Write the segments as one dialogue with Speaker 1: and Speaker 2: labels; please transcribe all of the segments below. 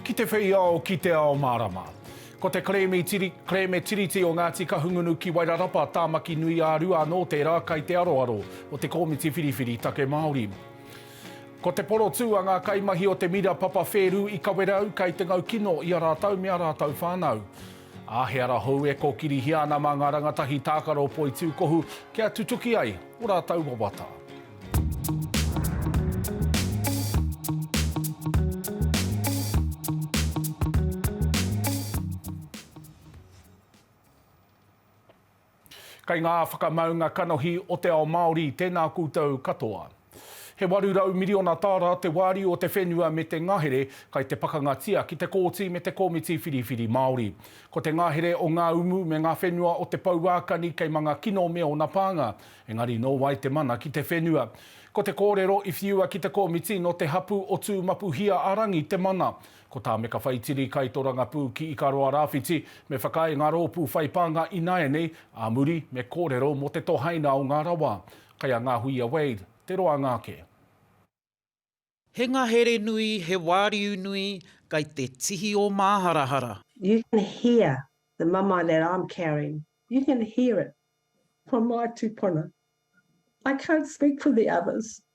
Speaker 1: Ki te whei ao, ki te ao mārama. Ko te kerēme tiri, kerēme Tiriti o Ngāti Kahungunu ki Wairarapa, Tāmaki Nui ā Rua anō tērā kai te aroaro o te Kōmiti Whiriwhiri Take Māori. Ko te porotū a ngā kaimahi o te Mira Papa Whērū i Kawerau kai te ngau kino i a rātou me a rātou whānau. Ā, he ara hou e kōkirihia ana mā ngā rangatahi tākaro poitūkohu kia tutuki ai ō rātou wawata. Kei ngā whakamaunga kanohi o te ao Māori tēnā koutou katoa. He 800 miriona tāra te wāriu o te whenua me te ngahere kai te pakangatia ki te Kōti me te Komiti Whiriwhiri Māori. Ko te ngahere o ngā umu me ngā whenua o te pouākani kei manga kino me ōna pānga, engari nō wai te mana ki te whenua? Ko te kōrero i whiua ki te komiti nō te hapu o Tūmapuhia-a-rangi te mana. Ko tā Meka Whaitiri, Kaitorangapū ki Ikaroa Rāwhiti, me whakaae ngā rōpū whai pānga ināianei, ā muri, me kōrero mō te tohaina o ngā rawa. Kai a Ngahuia Wade, te roanga ake.
Speaker 2: He ngahere nui, he wāriu nui, kai te tihi o māharahara. You can
Speaker 3: hear the mamae that I'm carrying, you can hear it from my tupuna. I can't speak for the others,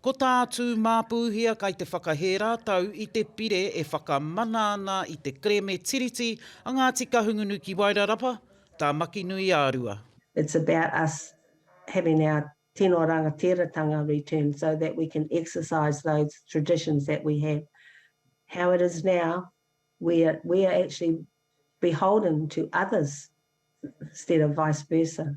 Speaker 4: Ko tā
Speaker 2: Tūmāpūhia kai te whakahē rātou i te pire e whakamana ana i te kereme Tiriti a Ngāti Kahungunu ki Wairarapa, Tāmakinuiārua. It's about
Speaker 3: us having our tino rangatira-tanga returned so that we can exercise those traditions that we have. How it is now, we are, we are actually beholden to others instead of vice versa.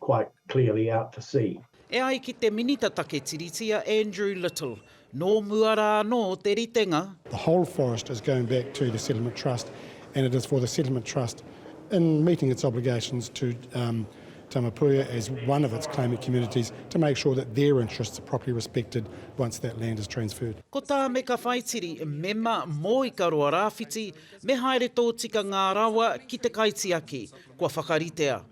Speaker 4: quite clearly out to sea. E ai ki te
Speaker 2: Minita Take Tiriti a Andrew Little, nō mua rā anō te ritenga. The whole forest
Speaker 5: is going back to the Settlement Trust and it is for the Settlement Trust in meeting its obligations to Tamapuia as one of its claimant communities to make sure that their interests are properly respected once that land is transferred. Ko Tāmeka
Speaker 2: Whaitiri, mema mō Ikaroa Rāwhiti, me haere tōtika ngā rawa ki te kaitiaki, kua whakaritea.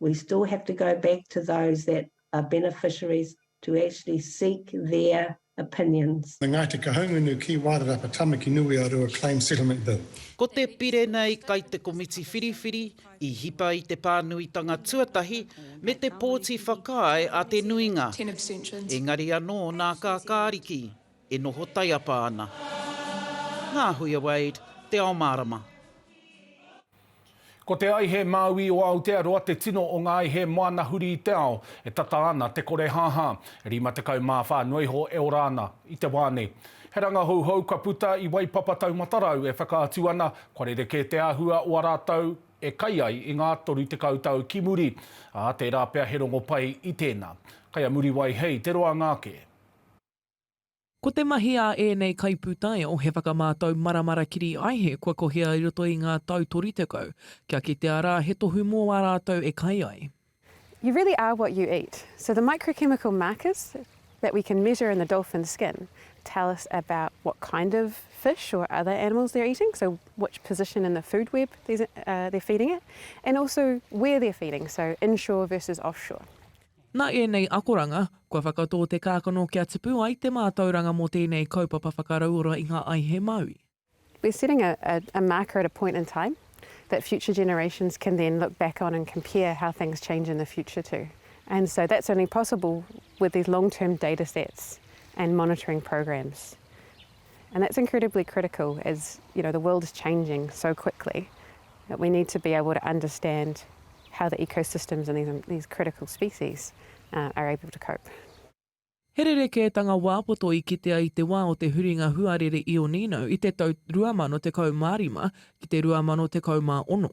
Speaker 3: we still have to go back to those that are beneficiaries to actually seek their opinions. The Ngāti Kahungunu
Speaker 5: Key Wairarapa Tamaki Nui a Rua Claim Settlement Bill. Ko te pire
Speaker 2: nei kai te komiti whiriwhiri i hipa i te pānuitanga tuatahi me te pōti whakaae a te nuinga.
Speaker 6: Engari anō nā
Speaker 2: Kākāriki e noho taiapa ana. Ngāhuia Wade, Te Ao Mārama.
Speaker 1: Ko te aihe māui o Aotearoa te tino o ngā aihe moana huri i te ao e tata ana te korehāhā, 54 noa iho e ora ana i te wā nei. He rangahouhou ka puta i Waipapa Taumatarau e whakaatu ana kua rerekē te āhua o a rātou e kai ai i ngā 30 tau ki muri, ā, tērā pea he rongo pai i tēnā. Kai a Muriwai hei te roanga ake.
Speaker 7: Ko te mahi ā ēnei kaipūtaiao he whakamātau maramara kiri aihe kua kohia i roto i ngā tau 30, kia kitea rā he tohu mō ā rātou e kai ai. You really
Speaker 8: are what you eat, so the microchemical markers that we can measure in the dolphin skin tell us about what kind of fish or other animals they're eating, so which position in the food web they're feeding it, and also where they're feeding, so inshore versus offshore. Nā ēnei
Speaker 7: akoranga, kua whakatō te kākano kia tipu ai te mātauranga mō tēnei kaupapa whakarauora
Speaker 8: i ngā
Speaker 7: aihe Māori. We're
Speaker 8: setting
Speaker 7: a
Speaker 8: a marker
Speaker 7: at a
Speaker 8: point in
Speaker 7: time
Speaker 8: that future generations can then look back on and compare how things change in the future to. And so that's only possible with these long term data sets and monitoring programs. And that's incredibly critical as you know the world is changing so quickly that we need to be able to understand how the ecosystems and these, these critical species uh, are able to cope. He
Speaker 7: rerekētanga wā poto i kitea i te wā o te huringa huarere Ionino i te tau 2015 ki te 2016.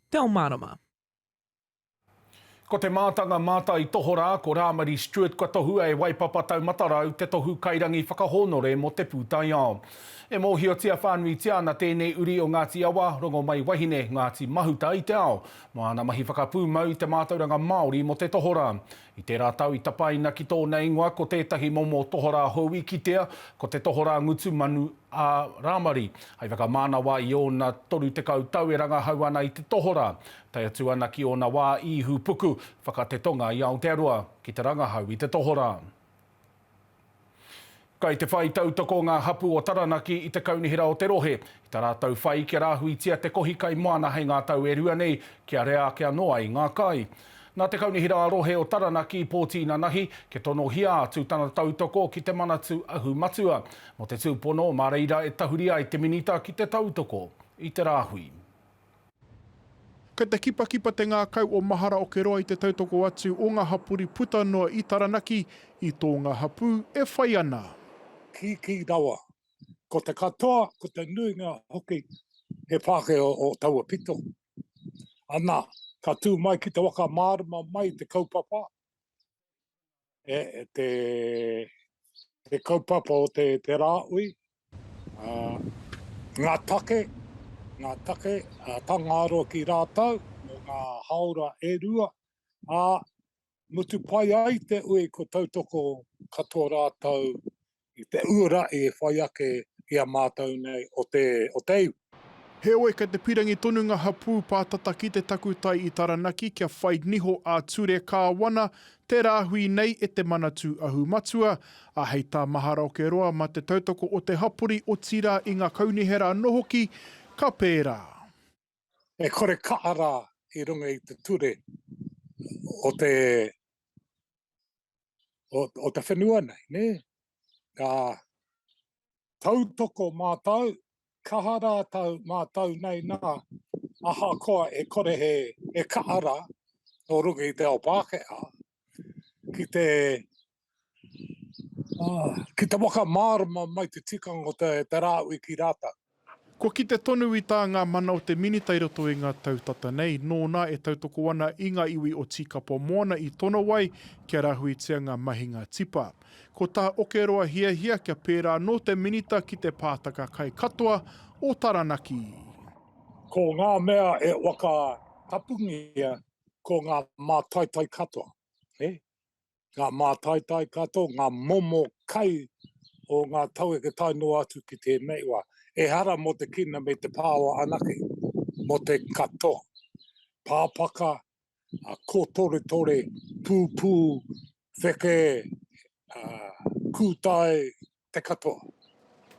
Speaker 7: Te ao mārama.
Speaker 1: Ko te mātanga mātai tohorā ko Rāmari Stewart kua tohua e Waipapa Taumatarau te tohu kairangi whakahōnore mō Te Pūtaiao. E mōhiotia whānuitia ana tēnei uri o Ngāti Awa, Rongomaiwahine, Ngāti Mahuta i te ao, mō āna mahi whakapūmau i te mātauranga Māori mō te tohorā. I tērā tau i tapaina ki tōna ingoa ko tētahi momo tohorā hou i kitea, ko te tohorā ngutu manu a Rāmari. Hei whakamānawa i ōna 30 tau e rangahau ana i te tohorā, tae atu ana ki ōna wā i Ihupuku, whaka te tonga i Aotearoa, ki te rangahau i te tohorā. Kai te whai tautoko ngā hapū o Taranaki i te kaunihera o te rohe, i tā rātou whai kia rāhuitia te kohi kai moana hei ngā tau e rua nei, kia rea ake anō ai ngā kai. Nā te kaunihera ā-rohe o Taranaki, Pōti Nanahi, kia tonohia atu tana tautoko ki te Manatū Ahu Matua. Mō te tūpono, mā reira e tahuri ai te Minita ki te tautoko i te rāhui.
Speaker 6: Kei te kipakipa te ngākau o mahara o Keroa i te tautoko atu o ngā hapori puta noa i Taranaki i tō ngā hapū e whai ana. Kīkī
Speaker 9: rawa. Ko te katoa, ko te nuinga hoki he Pākehā o taua pito. Anā, ka tū mai ki te waka mārama mai te kaupapa. e, te, te kaupapa o te, te rāui, uh, ngā take, ngā take uh, tangāro ki rātau, mō ngā haora e rua, a mutu pai ai te ui ko tautoko katoa rātau i te uara i whai ake i a mātou nei o te, o te iwi. Heoi, kei
Speaker 6: te pirangi tonu nga hapū pātata ki te takutai i Taranaki kia whai niho ā-ture kāwana te rāhui nei e te Manatū Ahu Matua, ā, hei tā Maharoke Roa ma te tautoko o te hapori otirā i nga kaunihera ano hoki, ka pērā. E
Speaker 9: kore kaha rā i runga i te ture o te, o, o te whenua nei, ne? Ka tautoko mātou, kaha rā tau mātou nei nā, ahakoa e kore he, he kaha rā, nō runga i te ao Pākehā, ki te uh, ki te whakamārama mai te tikanga o te, te rāui ki rātau. Kua kite
Speaker 6: tonu i tā ngā mana o te Minita i roto i ngā tau tata nei, nōna e tautoko ana i ngā iwi o Tīkapa Moana i tono ai kia rāhuitia ngā mahinga tipa. Ko tā Okeroa hiahia kia pērā anō te Minita ki te pātaka kai katoa o Taranaki. Ko
Speaker 9: ngā mea e waka tapungia ko ngā mātaitai katoa. He? Ngā mātaitai katoa, ngā momo kai o ngā taueke tae noa atu ki tēnei wā. Ehara mō te kina me te pāoa anake, mō te katoa. Pāpaka, kōtoretore, pūpū, wheke, kūtae, te katoa.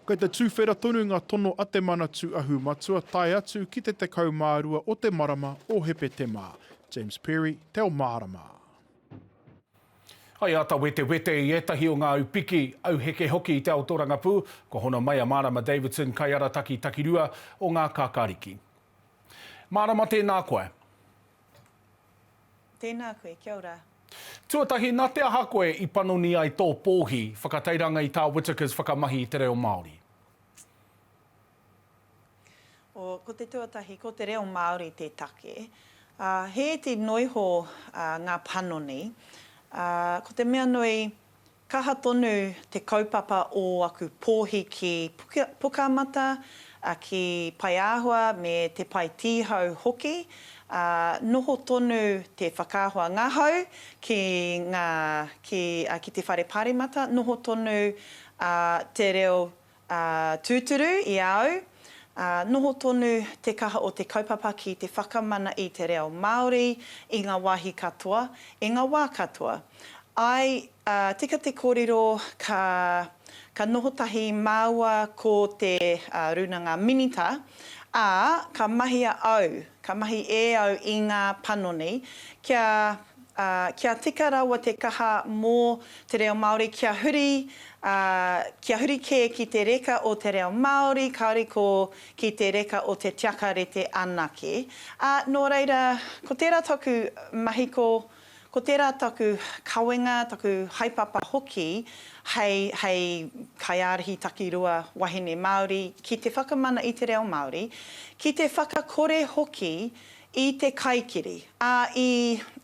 Speaker 9: Kei te
Speaker 6: tuwhera tonu nga tono a te Manatu Ahu Matua tae atu ki te 12 o te marama o Hepetema. James Perry, Te Ao Mārama.
Speaker 1: Hai ata wetewete i etahi o nga au piki, au heke hoki i te ao torangapū, kua hono mai a Marama Davidson, Kaiarataki Takirua o nga Kakariki.
Speaker 10: Marama tēnā
Speaker 1: koe.
Speaker 10: Tēnā
Speaker 1: koe, kia ora. Tuatahi, nā te aha koe i panoni ai tō pōhi whakatairanga i tā Whittaker's whakamahi i te reo Māori?
Speaker 10: Oh, ko te tuatahi, ko te reo Māori te take. He iti noiho ngā panoni. Ko te mea nui, Kaha tonu te kaupapa o aku pōhi ki Pukamata, ki Paeāhua me Te Pae Tīhau hoki. Noho tonu te whakaahua ngahau ki te whare paremata, noho tonu te reo Ā, tūturu i a au, ā, noho tonu te kaha o te kaupapa ki te whakamana i te reo Māori i ngā wāhi katoa, i ngā wā katoa. Āe, ā, tika te kōrero ka, ka noho tahi māua ko te, ā, Rūnanga Minita, ā, ka mahia au, ka mahi e au i ngā panoni kia, Ā, kia tika rawa te kaha mō te reo Māori kia huri, ā, kia huri kē ki te reka o te reo Māori, kāore ko ki te reka o te tiaka rete anake. Ā, nō reira, ko tērā taku mahi ko, ko tērā taku kawenga, taku haepapa hoki hei, hei kaiārahi takirua wahine Māori ki te whakamana i te reo Māori, ki te whakakore hoki I te kaikiri. Ā, i,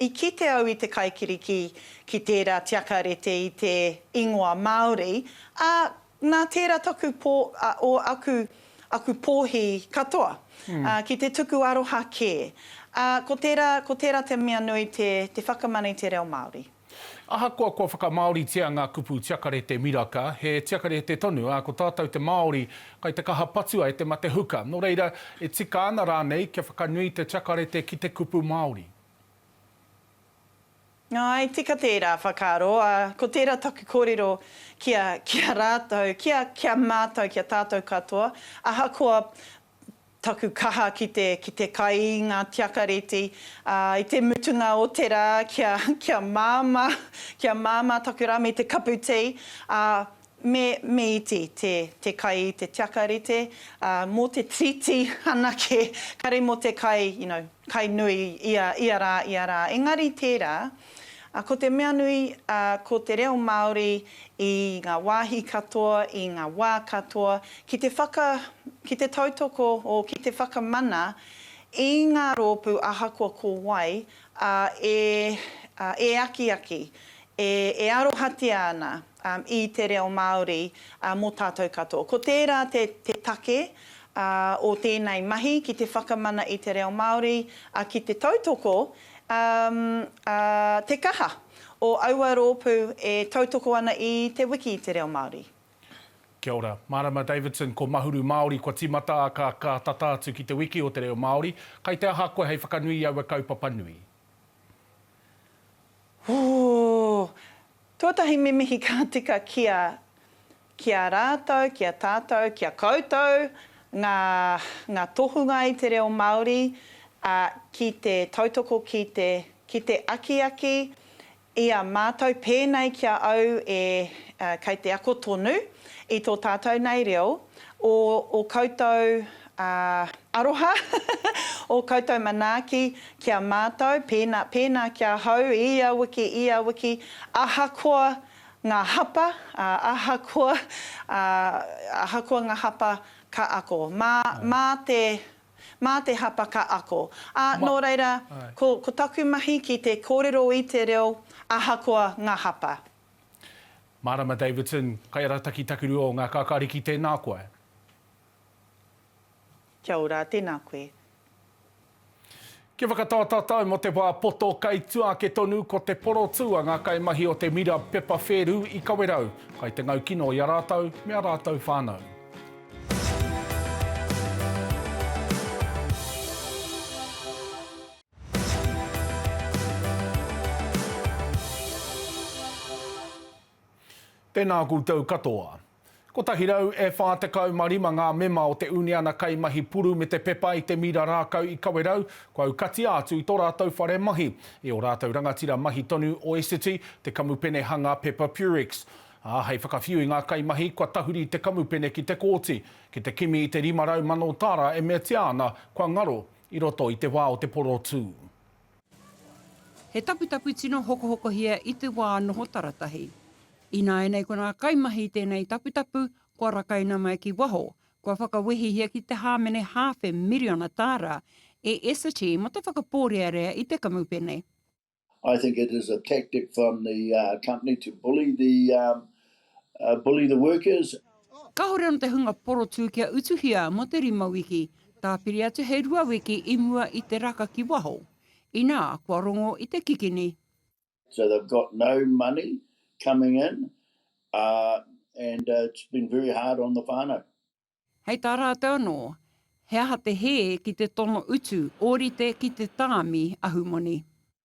Speaker 10: i kite au i te kaikiri ki, ki tērā tiakarete i te ingoa Māori, ā, nā tērā taku pō, ā, ō aku, aku pōhi katoa, ā, ki te tuku aroha kē. Ā, ko tērā, ko tērā te mea nui te, te whakamana i te reo Māori. Ahakoa kua
Speaker 1: whakamāoritia ngā kupu tiakarete miraka, he tiakarete tonu, ā, ko tātou te Māori, kai te kaha patua e te mate huka. Nō reira, e tika ana rānei kia whakanui te tiakarete ki te kupu Māori?
Speaker 10: Āe, tika tērā whakaaro, ā, ko tērā taku kōrero ki a, ki a rātou, ki a, ki a mātou, ki a tātou katoa, ahakoa taku kaha ki te, ki te kai i ngā tiakareti, ā, i te mutunga o te rā, kia, kia māmā, kia māmā taku rā me te kapu tī, ā, me, me iti te, te kai i te tiakarete, ā, mō te tiriti anake, kare mō te kai, you know, kai nui ia, ia rā, ia rā. Engari tērā, Ko te mea nui, ko te reo Māori i ngā wāhi katoa, i ngā wā katoa, ki te whaka, ki te tautoko, o ki te whakamana i ngā rōpū ahakoa ko wai, ā, e, ā, e akiaki, e, e arohatia ana i te reo Māori mō tātou katoa. Ko tērā te, te take, ā, o tēnei mahi ki te whakamana i te reo Māori, ā, ki te tautoko Um, a, te kaha o aua roopu e tautoko ana i Te Wiki i te Reo Māori. Kia ora.
Speaker 1: Marama Davidson, ko Mahuru Māori kua timata a ka ka tata atu ki te wiki o te reo Māori. Kai te aha koe hei whakanui i aua kaupapa nui? Ooh!
Speaker 10: Tuatahi me mihi ka tika kia Ki a rātou, ki a tātou, ki a koutou ngā, ngā tohunga i te reo Māori, ā, ki te tautoko, ki te, ki te akiaki i a mātou pēnei ki a au e, ā, kei te ako tonu i tō tātou nei reo, ō, ō koutou, ā, aroha, ō koutou manaaki ki a mātou, pēnā, pēnā ki ahau i ia wiki, i ia wiki, ahakoa Ngā hapa, ā, ahakoa, ā, ahakoa ngā hapa, ka ako. Mā, mā te, mā te hapa ka ako. Ā, Ma, nō reira, āe. ko, ko taku mahi ki te kōrero i te reo, ahakoa ngā hapa.
Speaker 1: Mārama Davidson, Kaiarataki Takurua o Ngā Kākāriki, tēnā koe.
Speaker 10: Kia ora, tēnā koe.
Speaker 1: Kia whakatā tātou mō te wā poto kei tua ake tonu ko te porotū a ngā kaimahi o te mira pepa whērū i Kawerau, kai te ngau kino i a rātou me a rātou whānau. Tēnā koutou katoa. 145 ngā mema o te uniana kaimahi puru me te pepa i te mira rākau i Kawerau kua aukatia atu i tō rātou whare mahi, i ō rātou rangatira mahi tonu o Essity, te kamupene hanga pepa Purex. Ā, hei whakawhiu i ngā kaimahi, kua tahuri te kamupene ki te kōti, ki te kimi i te 500 mano tāra e meatia ana kua ngaro i roto i te wā o te porotū. He
Speaker 11: taputapu tino hokohokohia i te wā noho taratahi. Ināianei ko ngā kaimahi i tēnei taputapu kua rakaina mai ki waho, kua whakawehihia ki te hāmene hāwhe miriona tāra e Essity mō te whakapōrearea i te kamupene. I think
Speaker 12: it is a tactic from the company to bully the uh, bully the workers. Kāore anō te
Speaker 11: hunga porotū kia utuhia mō te rima wiki, tāpiri atu he rua wiki i mua i te raka ki waho, inā, kua rongo i te kikini. So they've
Speaker 12: got no money coming in uh, and uh, it's been very hard on the whānau. Hei tā
Speaker 11: rātou anō, he aha te hē ki te tono utu, ōrite ki te tāmi ahumoni.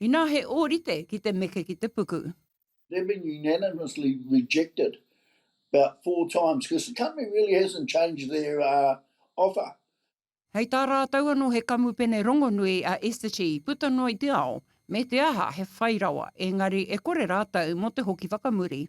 Speaker 12: Inā he
Speaker 11: ōrite ki te meke ki te puku. They've been
Speaker 12: unanimously rejected about four times because the company really hasn't changed their offer. Hei tā
Speaker 11: rātou anō he kamupene rongonui a Essity i puta noa i te ao me te aha he whai rawa, engari e kore rātou mō te hoki whakamuri.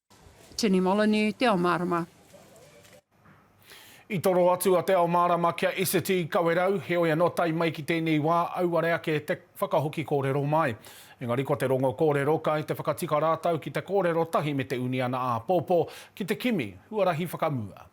Speaker 13: Tini Moloney,
Speaker 11: Te Ao Mārama.
Speaker 1: I toro atu a Te Ao Mārama kia Esiti Kawerau, heoi anō tae mai ki tēnei wā auare ake te whakahoki kōrero mai. Engari ko te rongo kōrero kai te whakatika rātau ki te kōrero tahi me te uniana āpōpō ki te kimi huarahi whakamua.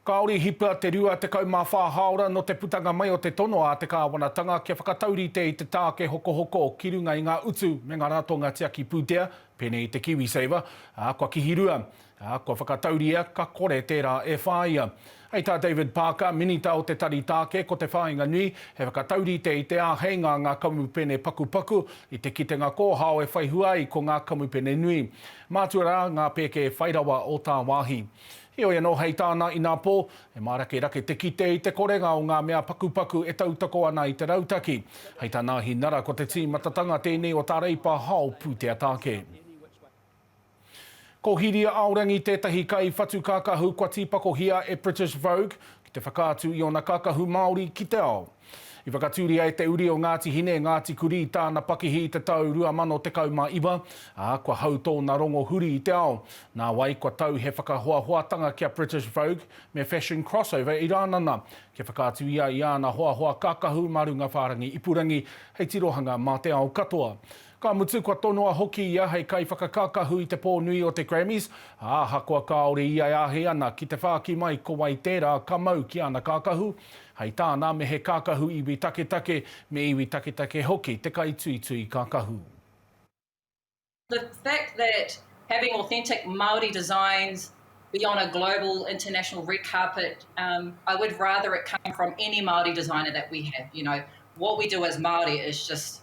Speaker 1: Kāore i hipa te 24 hāora nō te putanga mai o te tono a te kāwanatanga kia whakataurite i te tāke hokohoko ki runga i ngā utu me ngā ratonga tiaki pūtea, pēnei i te KiwiSaver, ā, kua kihirua, ā, kua whakatauria ka kore tērā e whāia. Hei tā David Parker, Minita o te Tari Tāke, ko te whāinga nui, he whakataurite i te āheinga a ngā kamupene pakupaku i te kitenga kōhao e whaihua ai ko ngā kamupene nui. Mātua rā ngā pēke whai rawa o tāwāhi. Heoi anō hei tāna inā pō, he mārakerake te kite i te korenga o ngā mea pakupaku e tautoko ana i te rautaki. Hei tā Nāhi Nara ko te tīmatatanga tēnei o tā Reipa Hao pūtea tāke. Ko Hiria Aorangi tētahi kai whatu kākahu kua tīpakohia e British Vogue ki te whakaatu i ōna kākahu Māori ki te ao. I whakatūria e te uri o Ngāti Hine e Ngāti Kurī tāna pakihi i te tau 2019, ā, kua hau tōna rongo huri i te ao. Nāwai, kua tau he whakahoahoatanga ki a British Vogue me Fashion Crossover i Rānana, kia whakaatu ia i āna hoahoa kākahu mā runga whārangi ipurangi hei tirohanga mā te ao katoa. Ka mutu, kua tonoa hoki ia hei kaiwhakakākahu i te pō nui o te Grammys, ā, ahakoa kāore ia e āhei ana ki te whāki mai ko wai tērā ka mau ki ana kākahu, hei tāna, me he kākahu iwi taketake, me iwi taketake hoki te kaituitui kākahu.
Speaker 14: The fact that having authentic Māori designs be on a global, international red carpet, I would rather it come from any Māori designer that we have, you know, what we do as Māori is just.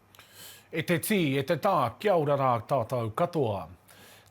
Speaker 1: E te tī, e te tā, kia ora rā tātou katoa.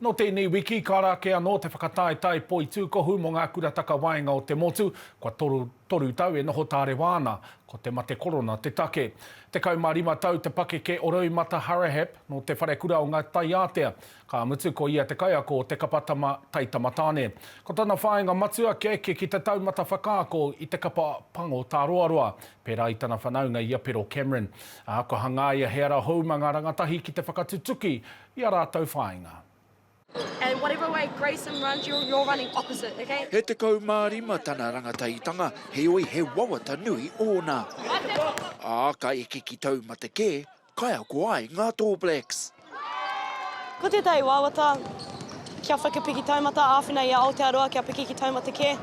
Speaker 1: Nō tēnei wiki, ka rā ake anō te whakataetae poitūkohu mō ngā kura takawaenga o te motu, kua toru, toru tau e noho tārewa ana, ko te mate korona te take. Tekau mā rima tau te pakeke o Roimata Harahep, nō te wharekura o Ngāi Taiātea. Ka mutu ko ia te kaiako o Te Kapa Tama Tai Tamatāne. Ko tana whāinga matua kia eke ki te taumata whakaako i te kapa pango tāroaroa, pērā i tana whanaunga i a Pero Cameron, ā, kua hangaia he ara hou mā ngā rangatahi ki te whakatutuki i ā rātou whāinga.
Speaker 15: E tekau mā rima
Speaker 16: tana rangataitanga, heoi he wawata nui ōna. Ā, ka eke ki taumata kē, Kaiako ai ngā Tall Blacks.
Speaker 15: Ko tētahi wawata kia whakapiki taumata āwhina i a Aotearoa kia piki ki taumata kē.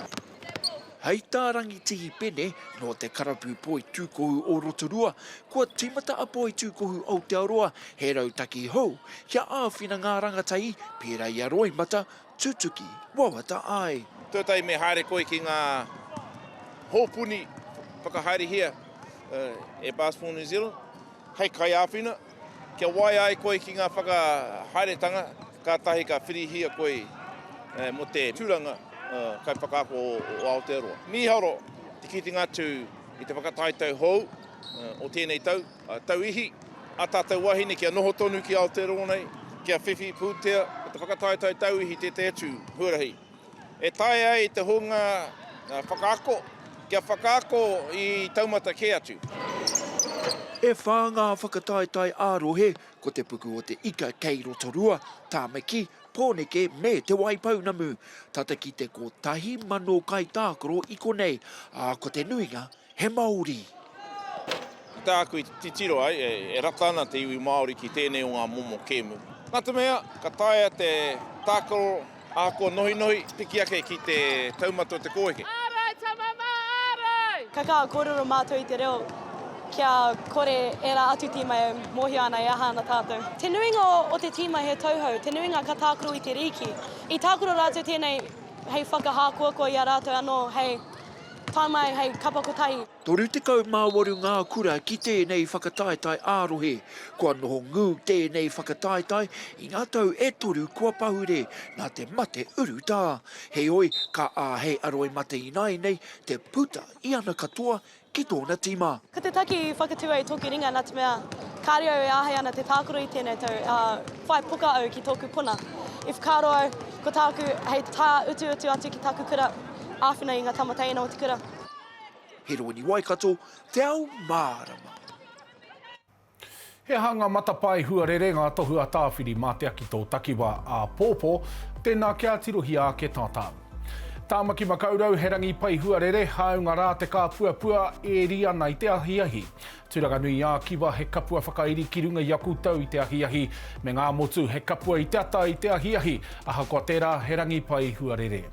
Speaker 15: Hei
Speaker 16: tā Rangitihi Pene nō te Karapu Poi Tūkohu o Rotorua, kua tīmata a Poi Tūkohu Aotearoa he rautaki hou kia āwhina ngā rangatahi, pērā i a Roimata, Tutuki, wawata ai. Tuatahi me haere
Speaker 17: koe ki ngā hōpuni whakahaerehia e Basketball New Zealand hei kaiāwhina, kia waea ai koe ki ngā whakahaeretanga kātahi ka whirihia koe mō te tūranga kaiwhakaako o Aotearoa. Mīharo te kitenga atu i te whakataetae hou o tēnei tau. Tauihi, a tatou wahine kia noho tonu ki Aotearoa nei, kia whiwhi pūtea ko te whakataetae tauihi tētahi atu huarahi e taea ai te hunga whakaako kia whakaako i taumata kē atu.
Speaker 16: E whā ngā whakataetae ā-rohe, ko te puku o te ika kei Rotorua, Tāmaki, Pōneke me Te Waipounamu. Tata ki te kotahi mano kaitākaro i konei, ā, ko te nuinga He Maori.
Speaker 17: Ko tāku i titiro ai, e rata ana te iwi Māori ki tēnei o ngā momo kēmu. Nā te mea, ka taea te tākaro ahakoa nohinohi, piki ake ki te taumata o te kōeke. Ārai, tama mā,
Speaker 15: ārai! Ka kaha kōrero mātou i te reo kia kore ērā atu tīma e mōhio ana e aha ana tātou. Te nuinga o te tīma he tauhou, te nuinga ka tākaro i te rīki. I tākaro rātou tēnei hei whakahākoakoa i a rātou anō hei. Tae mai hei kapa
Speaker 16: kotahi. 38 ngā kura ki tēnei whakataetae ā-rohe. Kua noho ngū tēnei whakataetae i ngā tau e toru kua pahure nā te mate urutā. Heoi, ka āhei a Roimate ināianei te puta i ana katoa ki tōna tīma. Ko te taki whakatū
Speaker 15: a tōku ringa nā te mea kāore au e āhei ana te tākaro i tēnei tau, ā, whai poka au ki tōku puna. I whakaaro au, ko tāku hei tāutuutu atu ki taku kura, āwhina i ngā tama teina o te kura. He
Speaker 16: rōni Waikato te ao mārama.
Speaker 1: He aha ngā matapae huarere, ngā tohu a Tāwhiri mā te aki tō takiwā āpōpō? Tēnā kia tirohia ake tātau. Tāmaki Makaurau, he rangi pai huarere, hāunga rā te kāpuapua, ēri ana i te ahiahi. Tūranganui-ā-Kiwa, he kapua whakairi ki runga i a koutou i te ahiahi, me Ngāmotu, he kapua i te ata i te ahiahi, ahakoa tērā, he rangi pai huarere.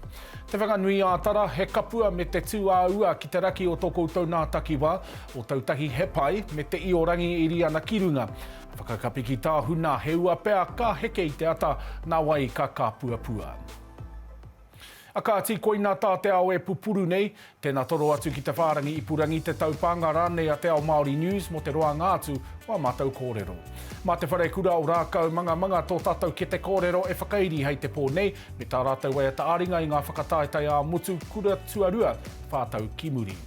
Speaker 1: Te Whanganui-ā-Tara, he kapua me te tū ā ua ki te raki o tō koutou nā takiwā, o tau tahi he pai, me te io rangi i ri ana ki runga. Whakakapi ki tā huna, he ua pea ka heke i te ata, nā wai ka kāpuapua. A kāti, koina tā te ao e pupuru nei, Tēnā toro atu ki te whārangi ipurangi, te taupānga rānei a Te Ao Māori News mō te roanga atu o ā mātou kōrero. Mā Te Wharekura o Rākau Mangamanga tō tātou kete kōrero e whakairi hei te pō nei, me tā rātou waiata ā-ringa i ngā whakataetae ā-motu kura tuarua, whā tau ki muri.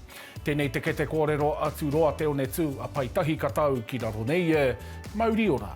Speaker 1: Tēnei te kete kōrero atu roa Te One Tū a Paetahi ka tau ki raro nei e. Mauri ora.